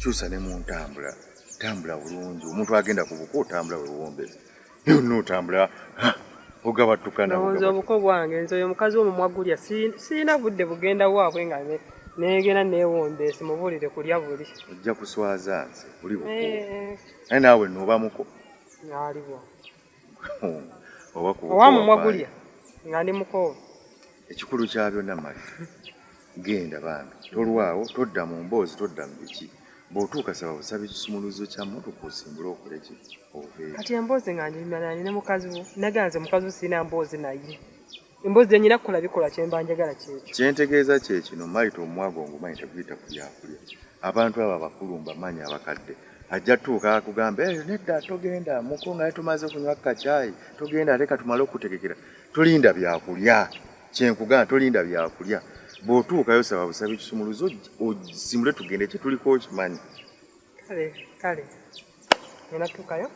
kyusa ne mu ntambula tambula bulungi omuntu agenda ku buko otambula wewombera yonna otambula ogabattukana nze obuko bwange nze oyo omukazi omumwa gulya sirina budde bugenda waabwe nga negenda newombeesi mubuulire kulya buli ojja kuswaza nze oli buko eh, eh. naye naawe noobamuko aliwo owa mumwa gulya nga ndi mukoovu ekikulu kya byonna mali Genda bambi tolwawo todda mu mboozi todda mu biki bw'otuuka saba busabi ekisumuluzo kya mmotoka osimbule okole ki oveeyo kati emboozi nga njimanani ne mukazi wo nagaa nze mukazi wo sirina mboozi naye emboozi zenyina kukola bikola kyemba njagala kyekyo kyentegeeza kye kino malita omwago ngumanyi teguyita ku byakulya abantu abo abakulu mbamanyi abakadde ajja tuuka akugamba eyo eh, nedda togenda muko nga tumaze kunywa kacaayi togenda leka tumale okutegekera tulinda byakulya kyenkugana tolinda byakulya bwotuukayo saba busaba ekisumuluzo osimule tugende kyetuliko okimanyi kale kale ngenda tuukayo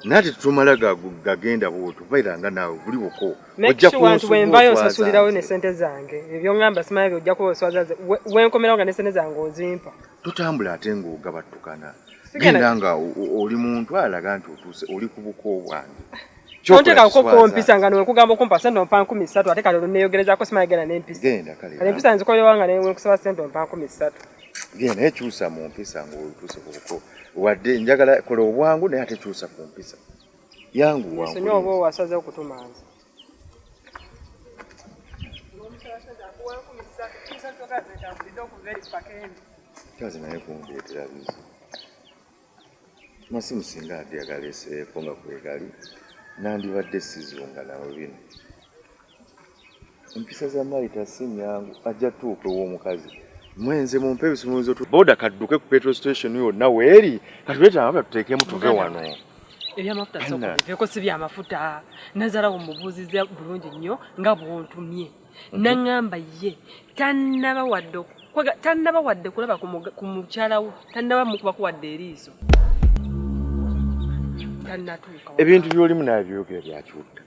nati tumala gagenda bwoto baira nga naawe buli buko ojjakuwenvayo osasulirawo nesente zange ebyoamba simanya byojja kuba oswaza wenkomerawo nga nesente zange ozimpa tutambula ate ngaogabattukana genda nga oli muntu alaga nti otuuse oli ku buko bwange tonteekako kompisa nga newekugamba okumpa sente ompa nkumi ssatu ate kale oluneyogerezako simanya genda nempisa kale empisa nzikolewa nga newekusaba sente ompa nkumi ssatu genda naye kyusa mu mpisa ngaotuuse kubuko wadde njagala kola obwangu naye ate kyusa ku mpisa yangu wangu oba owasaze okutumanza kyaze naye kundeetera bizi masimu singa ate yagaleseeko nga kwegali nandibadde sizunga nawe bino empisa za maita si nyangu ajja tuuka ew'omukazi mwenze mumpe ebisumuluzo boda kadduke ku petrol station yonna weeri katuleeta amafuta tuteekemu tuve wano ebyamafuta sokubiveeko si byamafuta nazalawo mubuuziza bulungi nnyo nga bwontumye naŋŋamba ye tannaba wadde tannaba wadde kulaba ku mukyala wo tannaba mukubako wadde eriiso tannatuuka ebintu by'olimu naye byogera byakiwutta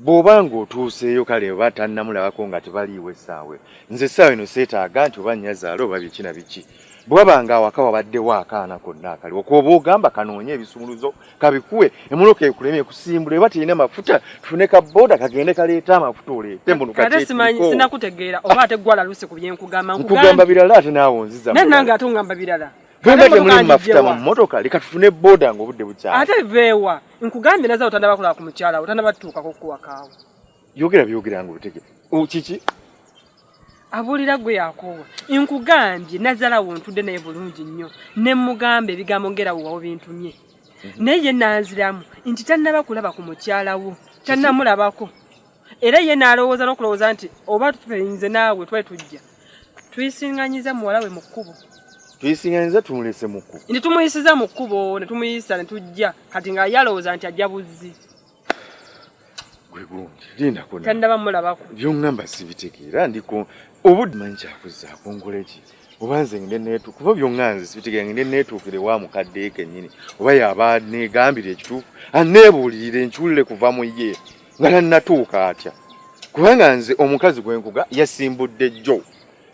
bw'oba ng'otuuseeyo kale oba tannamulabako nga tebaliiwo essaawa nze essaawa eno seetaaga nti oba nnyazaala oba biki na biki bwaba nga awaka wabaddewo akaana konna akali okwoba ogamba kanoonye ebisumuluzo kabikuwe emoloka ekulema ekusimbula eba terina mafuta tufune ka boda kagende kaleeta amafuta oleete mbonukatesinakutegeera oba ate gwala luse ku byenkugamba nkugamba birala ate naawe onziza naye nange ate ongamba birala bwemba temulimu mafuta mu mmotoka leka tufune boda nga obudde bukyala ate veewa nkugambye naza otandabakola ku mukyala otandabatuukako kuwakaawo yogera byogera nga otegere kiki abuulira gwe yakoowa nkugambye nazala wontudde naye bulungi nnyo ne mugamba ebigambo ngera wewawo bintumye mhm. naye ye nanziramu nti tannaba kulaba ku mukyala wo tannamulabako era ye naalowooza n'okulowooza nti oba tuinze naawe twali tujja tuyisinganyiza muwala we mu kkubo tuyisinganyiza tumulese mu kkubo ne tumuyisiza mu kkubo ne tumuyisa ne tujja kati nga yalowooza nti ajja buzzi tandaba mulabako byongamba sibitegeera ndiko obudde manyi kyakuzaako nkola eki oba nze ngende netu kuba byonga nze sibitegeera ngende netuukire wa mukadde kenyini oba yaba negambira ekituufu aneebuulirire nkiwulire kuva mu ye nga tannatuuka atya kubanga nze omukazi gwenkuga yasimbudde jjo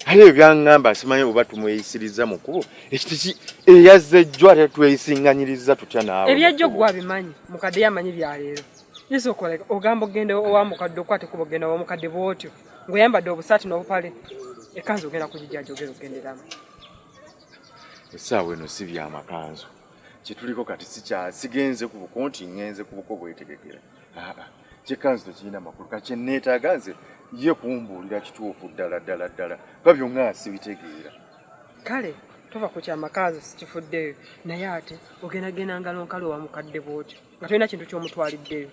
aye ebyangamba simanyi oba tumweyisirizza mu kkubo ekitiki eyazze jjo ate tweyisinganyiriza tutya naawe ebyajjo gwe abimanyi mukadde yamanyi byaleero yesu okoleka ogamba ogenda owa mukadde okwate kuba ogenda wa mukadde bwotyo ng'oyambadde obusaati n'obupale ekanzu ogenda kugijaja ogenda ogenderamu essaawa eno si byamakanzu kyetuliko kati sigenze ku buko nti ngenze ku buko bwetegekera kyekka nze tekirina makulu ka kyenneetaaga nze ye kumbuulira kituufu ddala ddala ddala kuba byonna sibitegeera kale tova ku kyamakazi sikifuddeyo naye ate ogendagenda ngalo nkalo wa mukadde bwotyo nga tolina kintu ky'omutwaliddeyo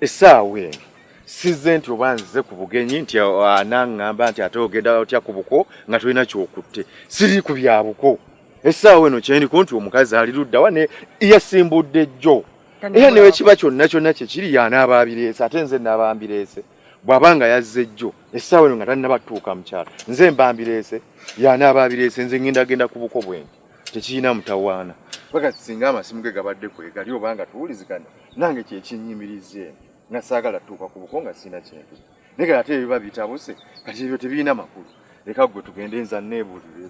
essaawa eno sizze nti oba nzize ku bugenyi nti anaŋŋamba nti ate ogenda otya ku buko nga tolina kyokutte siri ku bya buko essaawa eno kyendiko nti omukazi ali luddawa ne yasimbudde jjo era ne bwe kiba kyonna kyonna kye kiri y'anaaba abireese ate nze nnaaba mbireese bw'aba nga yazze jjo essaawa eno nga tannaba tutuuka mukyalo nze mba mbireese y'anaaba abireese nze ngenda genda ku buko bwenge tekirina mutawaana bagati singa amasimu ge gabadde kwegali oba nga tuwuliziganya nange kyekinnyimirizza eno nga saagala tutuuka ku buko nga sirina kintu naye kati ate ebiba bitabuse kati ebyo tebirina makulu leka gwe tugende nza neebuulire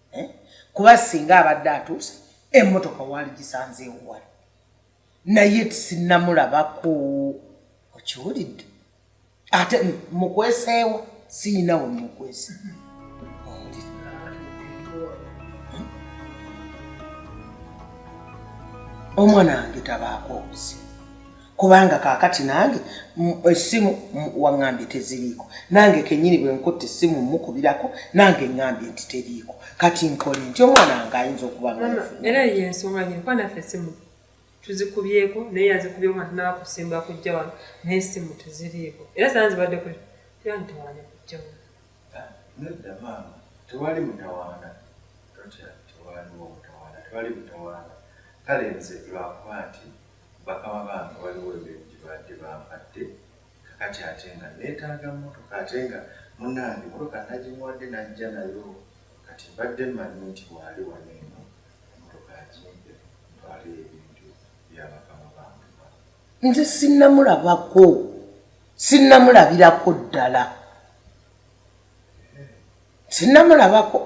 eh? kuba singa abadde atuuse emmotoka waali gisanze ewuwala naye tisinamulabako okiwulidde ate mukweseewa siyinawe mukwese omwana wange tabaako obuzibu kubanga kakati nange esimu wangambye teziriiko nange kenyini bwenkutte esimu mukubirako nange ngambye nti teriiko kati nkole nti omwana wange ayinza okuba era yensonga nyini kuba naffe esimu tuzikubyeko naye yazikubyeko nga tunaba kusimba kujja wano naye esimu teziriiko era sana zibadde kuli tera ntawaana kujja wano nedda maama tewali mutawaana totya tewaliwo mutawaana tewali mutawaana kale nze lwakuba nti Bakama bange waliwo ebintu gyebabadde bampadde kakati ate nga netaaga motoka ate nga munange motoka nagimuwadde najja nayo kati mbadde mmanyi nti bwali wano eno emotoka agimpe ntwaleyo ebintu byabakama bange ba. Nze sinnamulabako sinnamulabirako ddala. sinnamulabako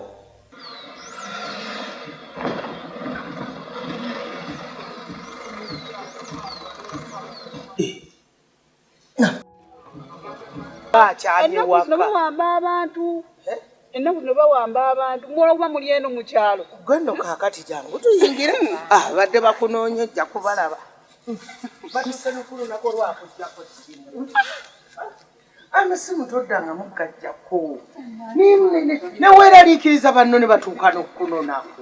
bawamba abantu eh? ennaku zino bawamba abantu mwoba muli eno mu kyalo gwe nno kaakati jangu tuyingire ah, badde bakunoonya ojja kubalaba batuse nokulunaku olwakujjako amasimu toddangamu gajjako neweeraliikiriza banno ne batuuka n'okukunonako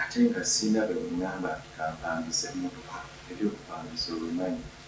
ate nga sirina bwe bungamba nti kampangisa emmotoka ebyokupangisa obimanyi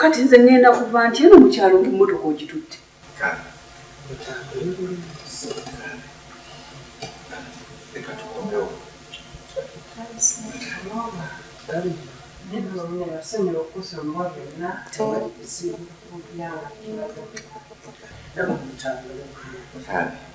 kati nze ngenda kuva nti eno mukyalo nti mmotoka ogitutte Thank you.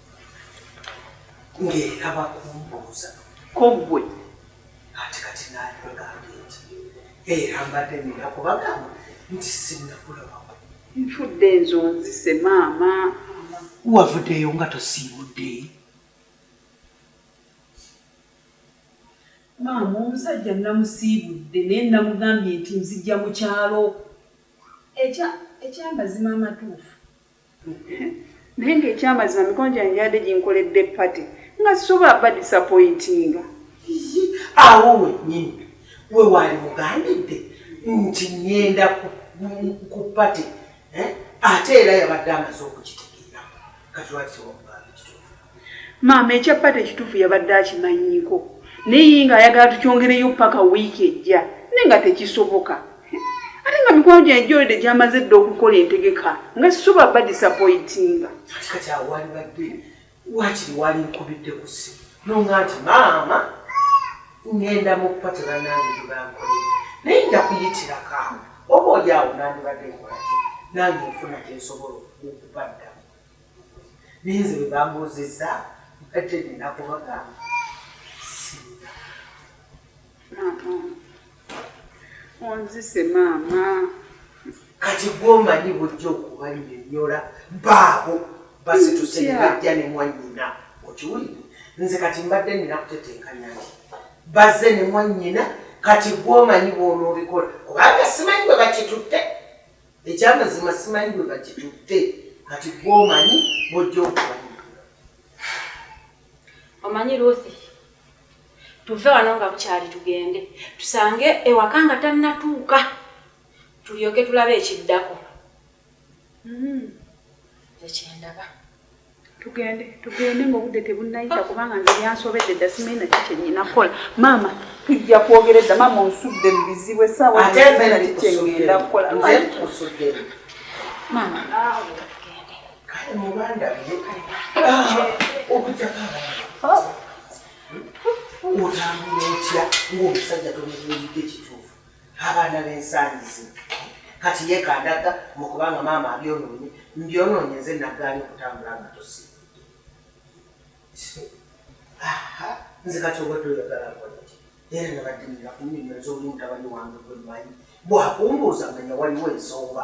ng'era bakumbuuza ko ggwe ati kati naali bagambye nti era mbadde nina kubagamba nti sinnakulabako nfudde enzo nzise maama wavuddeyo nga tosiibudde maama omusajja namusiibudde naye namugambye nti nzijja mu kyalo ekyamazima amatuufu Naye nga ekyamazima mikono gyange gyabadde ginkoledde party nga sisobola ba disappointinga. Awo wennyini we waali mugambidde nti ngenda ku party eh? ate era yabadde amaze okukitegeera kati lwaki wamugambye kituufu? Maama ekya party ekituufu yabadde akimanyiiko naye ye nga ayagala tukyongereyo ppaka wiiki ejja naye nga tekisoboka ate nga mikwano gyange gyolede gyamaze dda okukola entegeka nga sisobola ba disappointinga kati awo walibadde wakiri wali nkubidde ku ssimu nonga nti maama ngenda mu party banange gyebankolera naye nja kuyitirako awo oba oli awo nandibadde nkolaki nange nfuna kyensobola okubaddamu naye nze bwebambuuzizza mbadde nina kubagamba singa onzise maama kati gwomanyi bujja okubanyonyola baabo basituse nebajja ne mwanyina okiwulire nze kati mbadde nina kutetenkanya nti bazze ne mwanyina kati gwomanyi bwonoobikola kubanga simanyi bwe bakitutte ekyamazima simanyi bwe bakitutte kati gwomanyi bwojja okumanyi omanyi ruthi tuve wano nga bukyali tugende tusange ewaka nga tannatuuka tulyoke tulabe ekiddako hmm. ekyendaba tugende tugende nga obudde tebunnayita kubanga nze byansobedde dda simanyi naki kyenyina kukola maama tujja kwogera edda maama onsudde mu bizibu essaawa naki kyengenda kukola maama otambula otya ngaomusajja tomuyinidde kituufu abaana b'ensangi zino kati yekandaga mu kubanga maama abyonoonye mbyonoonye nze naggaani okutambula nga tosiibudde nze kati obadde oyagala nkolaki era nabadde nina kunyonyoza oli mutabani wange gwe mmanyi bwakumbuuza manya waliwo ensonga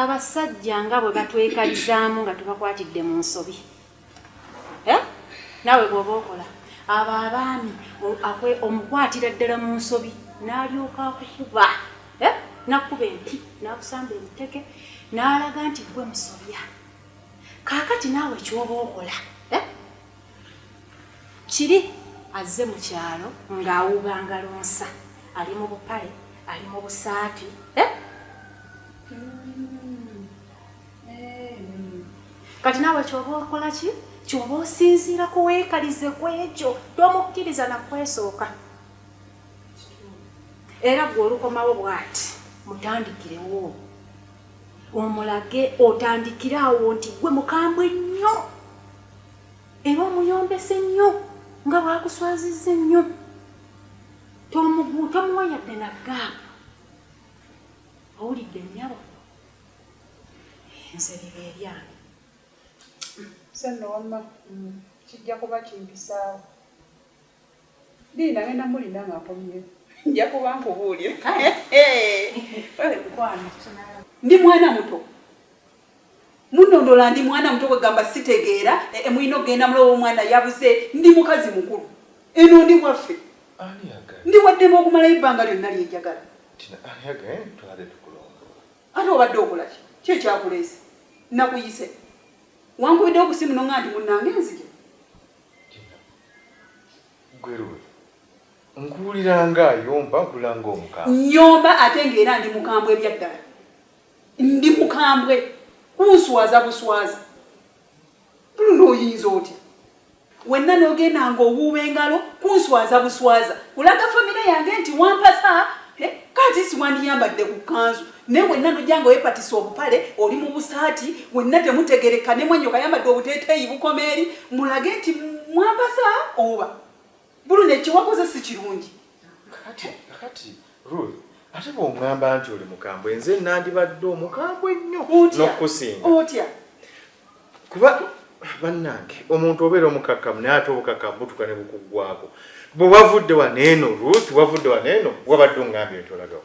abasajja nga bwe batwekalizaamu nga tubakwatidde mu nsobi eh? naawe bw'oba okola abo abaami omukwatira ddala mu nsobi n'alyoka akukuba eh? nakuba empi n'akusamba emiteke n'alaga nti gwe musobya kaakati naawe kyoba okola kiri azze mu kyalo ng'awuuba ngalonsa ali mu bupale ali mu busaati eh? kati naawe kyoba okola ki kyoba osinziira kuweekalize ku ekyo tomukkiriza nakwesooka era gwe olukomawo bwati mutandikirewo omulage otandikire awo nti gwe mukambwe nnyo era omuyombese nnyo nga bwakuswaziza ennyo tomuwa yadde na gaapu owulidde nyabo nze biba ebyange senno wamma kijja kuba kimpisaawo Linda ngenda mulinda nga akomye nja kuba nkubuulira ndi mwana muto munondola ndi mwana muto kwegamba sitegeera e, e, mulina okugenda mulowa omwana yabuze ndi mukazi mukulu eno ndi waffe ndi waddemu okumalayo ebbanga lyonna lyenjagala eh, ate obadde okolaki ki ekyakuleese nakuyise wankubidde okusimu nonga nti munange nzige nkuwulira nga ayomba nkula nga omukambwe nyomba ate ngaera ndi mukambwe ebyaddala ndi mukambwe kunswaza buswaza tuluna oyinza otya wenna nogenda nga owuuba engalo kunswaza buswaza kulaga famire yange nti wampasa eh, kati siwandiyambadde ku kanzu ne wenna nojja nga wepatisa obupale oli mu busaati wenna temutegereka ne mwanyo kayambadde obuteeteeyi bukoma eri mulage nti mwampasa oba bulu nekyewakoze si kirungi ate bwongamba nti oli mukambwe nze nandibadde omukambwe nnyo nokusinga otya kuba bannange omuntu obeera omukakkamu naye ate obukakkamu butuka ne bukuggwako bwe wavudde waneeno ruth wavudde waneeno wabadde ongambye nti olagawo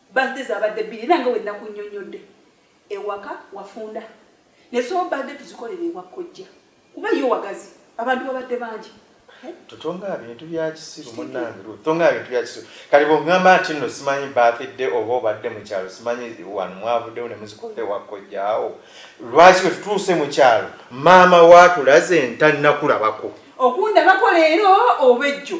Birthday zabadde bbiri era nga bwe nakunnyonnyodde ewaka wafunda ne so birthday tuzikolera ewa kkojja kuba yo wagazi abantu babadde bangi totonga bintu byakisiru munange totonga bintu byakisiru kati bwogamba nti nno simanyi birthday oba obadde mu kyalo simanyi wano mwavuddewo ne muzikolera ewa kkojjaawo lwaki bwe tutuuse mu kyalo maama waatulaze ntannakulabako okundabako leero oba ejjo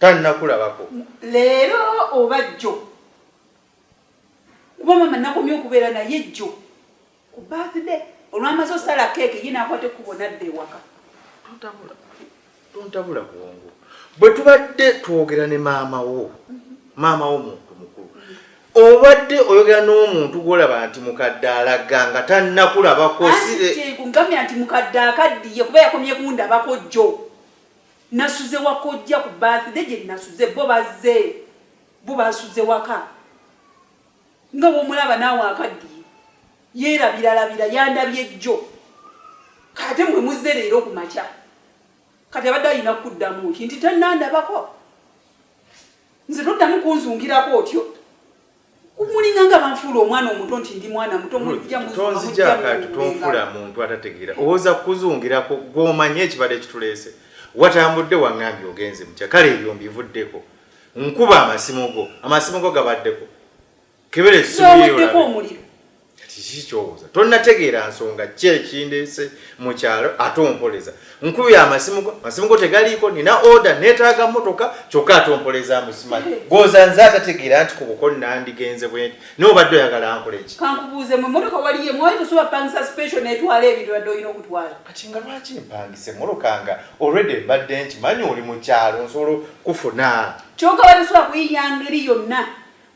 tanakulabako leero oba jjo kuba mama nakomye okubeera naye jjo ku birthday olwamaze osala keeke ye nakwata ekkubo nadda ewaka tontabula bwongo bwe tubadde twogera ne maama wo maama wo muntu mukulu obadde oyogera n'omuntu gwolaba nti mukadde alaga nga tanakulabako siregamya nti mukadde akaddiye kuba yakomye kundabako jjo Nasuze wakojja ku birthday gye nasuze bo bazze bo basuze waka nga bwomulaba naawe akaddiye yeerabiralabira yandabye jjo kate mwe muzze leero ku makya kati abadde alina kukuddamu nti nti tannandabako nze toddamu kunzungirako otyo kumulinga nga banfuula omwana omuto nti ndi mwana muto tonzijakanti tonfuula muntu atategeera owoza kukuzungirako gwomanyi ekibadde kituleese watambudde wangambye ogenze mukya kale ebyo mbivuddeko nkuba amasimu go amasimu go gabaddeko kebereweddeko omuliro kati kiki kyobuuza tonnategeera nsonga ki ekindeese mu kyalo ate ompoleza nkubye amasimu go amasimu go tegaliiko nina oda neetaaga mmotoka kyokka ate ompoleza musimanyi goza nze atategeera nti ku buko nandigenze bwenti naye obadde oyagala nkola eki kankubuuze mu mmotoka waliye mwali tosobola pangisa special netwala ebintu badde olina okutwala kati nga lwaki mpangisa emmotoka nga olredi mbadde nkimanyi oli mu kyalo nsobola kufuna kyoka wali osobola kuyiya ngeri yonna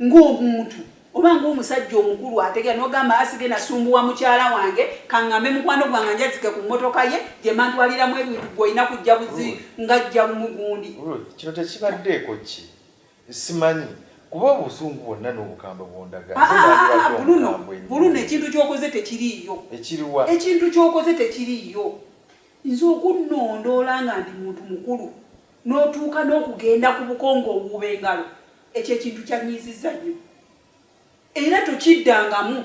ng'omuntu oba ng'omusajja omukulu ategera n'ogamba asige nasumbuwa mukyala wange kaŋŋambe mukwano gwange njazike ku mmotoka ye gye mantwaliramu ebintu gwe olina kujja buzi ng'ajja lumu gundi kino tekibaddeeko ki simanyi kuba obusungu bwonna n'obukambwe bwondagabuluno ah, ekintu kyokoze tekiriiyo ekiriwa ekintu kyokoze tekiriiyo nze okunnondoola nga ndi muntu mukulu n'otuuka n'okugenda ku bukongo obuuba engalo Ekyo ekintu kyanyiizizza nnyo era tokiddangamu.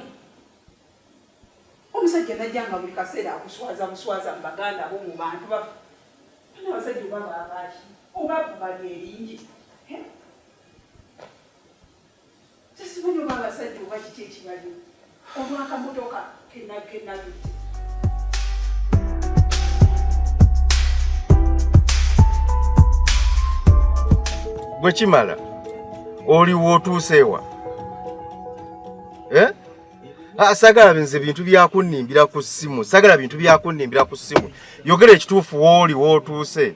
Omusajja najja nga buli kaseera akuswaza buswaza mu baganda bo mu bantu bafe ana abasajja oba babaaki oba bubali eringi sasimanyi oba abasajja oba kiki ekibaliwo olw'akamotoka ke nagge gwe kimala oli wootuuse ewa eh? ah, sagala nze bintu byakunnimbira ku ssimu sagala bintu byakunnimbira ku ssimu yogera ekituufu wooli wootuuse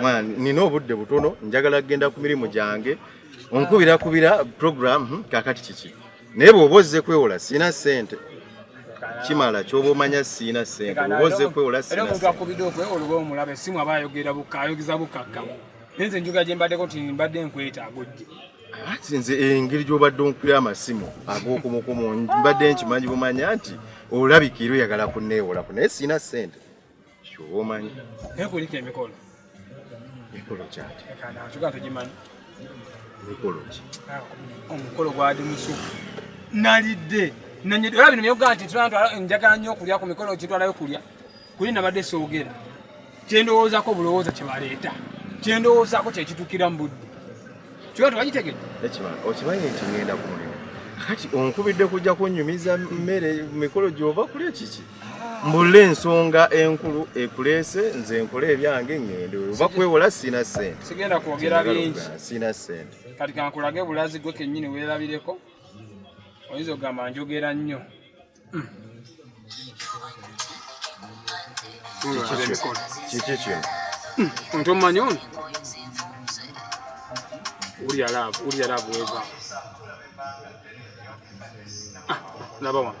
mwana nina obudde butono njagala kugenda ku mirimu gyange onkubira kubira program hmm, kakati kiki naye bwoba ozze kwewola sirina sente kimala kyoba omanya sirina sente oba ozze kwewola nze njuga gyembaddeko ti mbadde nkwetaago jje ati nze engeri eh, gyobadde onkubira amasimu agokumukumu mbadde nkimanyi bumanya nti olabika era oyagala kuneewolako naye sirina sente Shuba omanyi. Naye kulika emikolo. Mikolo kyaki? Kana ntuga tugimanyi. Mikolo ki? Ah, omukolo gwali musufu. Nalidde. Nanye dora bino byoga nti tulantu njagala nnyo okulya ku mikolo kitwalayo kulya. Kuli nabadde soogera. Kyendowoozako bulowooza kye baleeta. Kyendowoozako kye kitukira mu budde. Kiwa tuwagitegedde. Ekimanyi. Okimanyi nti ngenda ku mulimu. Kati onkubidde kujja kunyumiza mmere mikolo gy'ova kulya kiki? mbulla ensonga enkulu ekuleese nze nkole ebyange ngende oba kwewola sina sente sigenda kwogera bingi sina sente kati kankulage bulazi gwe kenyini weerabireko oyinza okugamba njogera nnyo hmm. kiki kino hmm. onti omumanyi ono ulya laavu ulya laavu weva ah, laba wano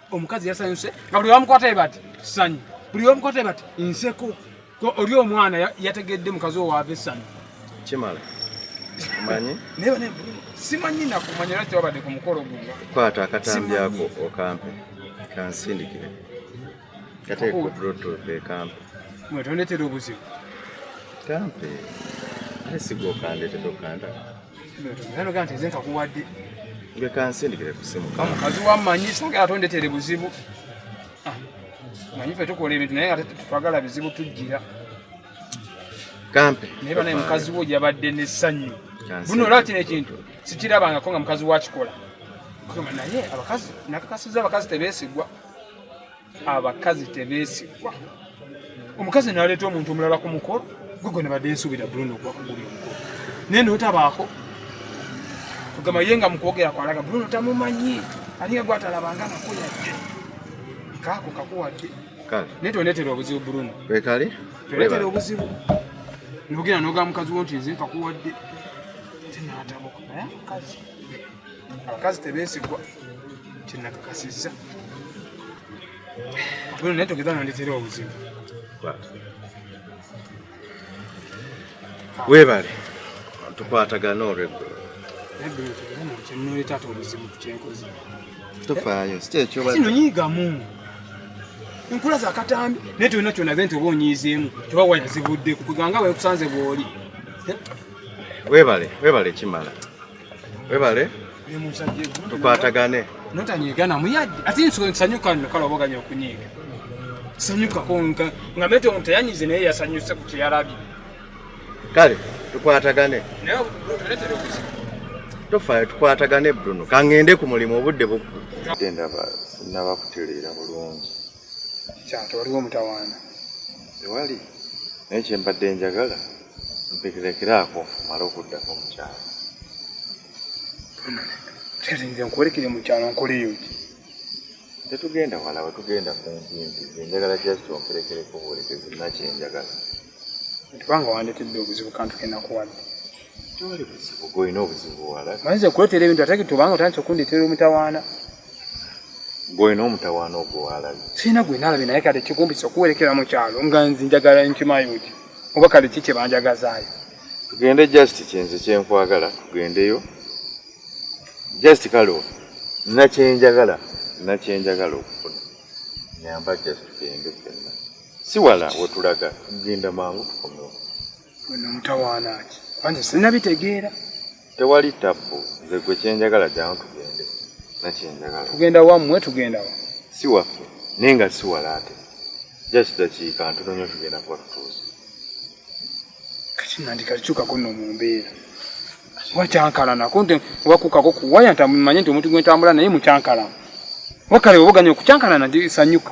omukazi yasanyuse nga buli wamukwata ebati sanyu buli wamukwata ebati nseko oli omwana yategedde mukazi owaava esanyu kimala manyi simanyi nakumanya lwaki wabadde ku mukolo guno kwata akatambi ako okampe kansindikire kateeka obulotoke kampe mwetondetera obuzibu kampe asigokandetedokanda omukazi wamanyi sagala tondetere buzibu ah, manyi fe tukola ebintu naye nga twagala bizibu tujjira kampe naye banaye mukazi wo yabadde nesanyu buno olaba kino ekintu sikirabangako nga mukazi wakikola naye abakazi nakakasiza abakazi tebesigwa abakazi tebeesigwa omukazi naleeta omuntu omulala ku mukolo gwe gwe nabadde nsuubira bruno ogwa kuguli omukolo naye notabaako ogamba ye nga mukwogera kwalaga bruno tamumanyi alinga gwatalabanga nako yadde kaako kakuwadde naye tonetera obuzibu bruno wekali tonetera obuzibu nogenda noga mukazi wo nti nze nkakuwadde tinatabuka naye mukazi abakazi tebeesigwa kyenakakasizza bwino naye togeza nondetera obuzibu weebale tukwatagana olweggulo kyenoleta ate obuzibu kyenkozi tofaayo si kyekyo sinonyiigamu enkula za katambi naye tolina kyonaze nti oba onyiizeemu toba wayazibudde kukuganga wekusanze bwoli webale webale kimala webale tukwatagane notanyegana muyadde ate nsanyuka nokala oboganya okunyiiga sanyukako nga mete omuntu teyanyize naye yasanyuse ku kyeyalabye kale tukwatagane tofayo tukwatagane bruno kangende ku mulimu obudde bukugenda sinaba kutereera bulungi kyate waliwo omutawaana tewali naye kyembadde njagala mpekerekeraako mala okuddako mukyalo kyati nze nkuwerekere mukyalo nkoleyo ki tetugenda wala wetugenda kumpimpi enjagala just omperekereko buwerekezi nakyenjagala kubanga wandetedde obuzibu kantu kenakuwadde toli buzibu golina obuzibu buwala manyiza okuletera ebintu ate kitubanga otandise okundetera omutawaana golina omutawaana ogwo walabi sirina gwe nalabi naye kati kigumbisa okuwerekera mu kyalo nga nzi njagala nkimayuti oba kale ki kye banjagazaayo tugende just kyenze kyenkwagala tugendeyo just kale nakyenjagala nakyenjagala okufuna nyamba just tugende fenna si wala wetulaga tugenda mangu tukomewo wena mutawaana ki anje sinabitegeera tewali tabbu nze gwe kyenjagala jangu tugende nakyenjagala tugenda wammwe tugenda wa si waffe naye nga si wala ate just dakiika ntono nyo tugenda kuba tutuuzi kati nandikalikyukako no mu mbeera wakyankalanako nti wakukako kuwaya ntamumanye nti omuntu gwentambula naye mukyankalana wakale obuganya okukyankalana ndi sanyuka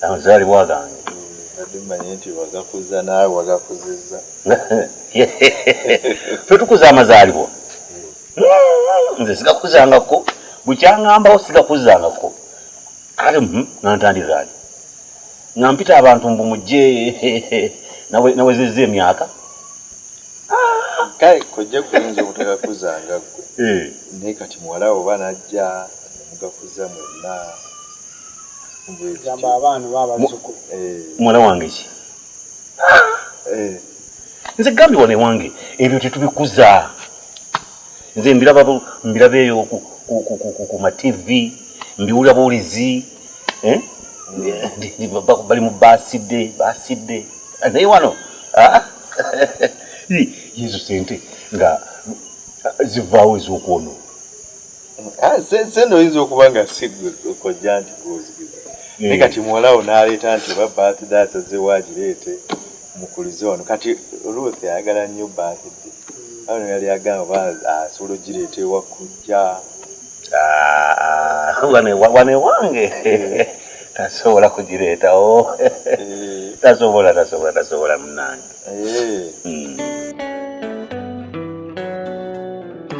amazaalibwa gange mmanyi nti wagakuza naawe wagakuziza fe tukuza amazaalibwa hmm, nze sigakuzangako bukyangambawo sigakuzangako kale hmm, nantandikaani nga mpita abantu mbu mujje nawezezza emyaka ah! kale kojja kuyinza obutagakuzanga gwe eh. naye kati muwalawo oba najja mugakuza mwenna muwala wange ki eh. nze gambi wano ewange ebyo tetubikuza nze mbiraba mbiraba eyo ku mativi mbiwulira buwulizi eh? bali mu basidde basidde ah, naye wano ah. yesu sente nga zivaawo ez'okwono Ah, sente oyinza okuba nga sigwe kojja nti gwozigiza hmm. naye kati muwalawo n'aleeta nti oba baatide asazewo agireete mukulize wano kati ruth ayagala nnyo baatide ano yali agamba oba asobola ogireeta ewa kujja ah, ah, wano ewange eh. tasobola kugireetawo oh. eh. tasobola tasobola tasobola munange eh. hmm.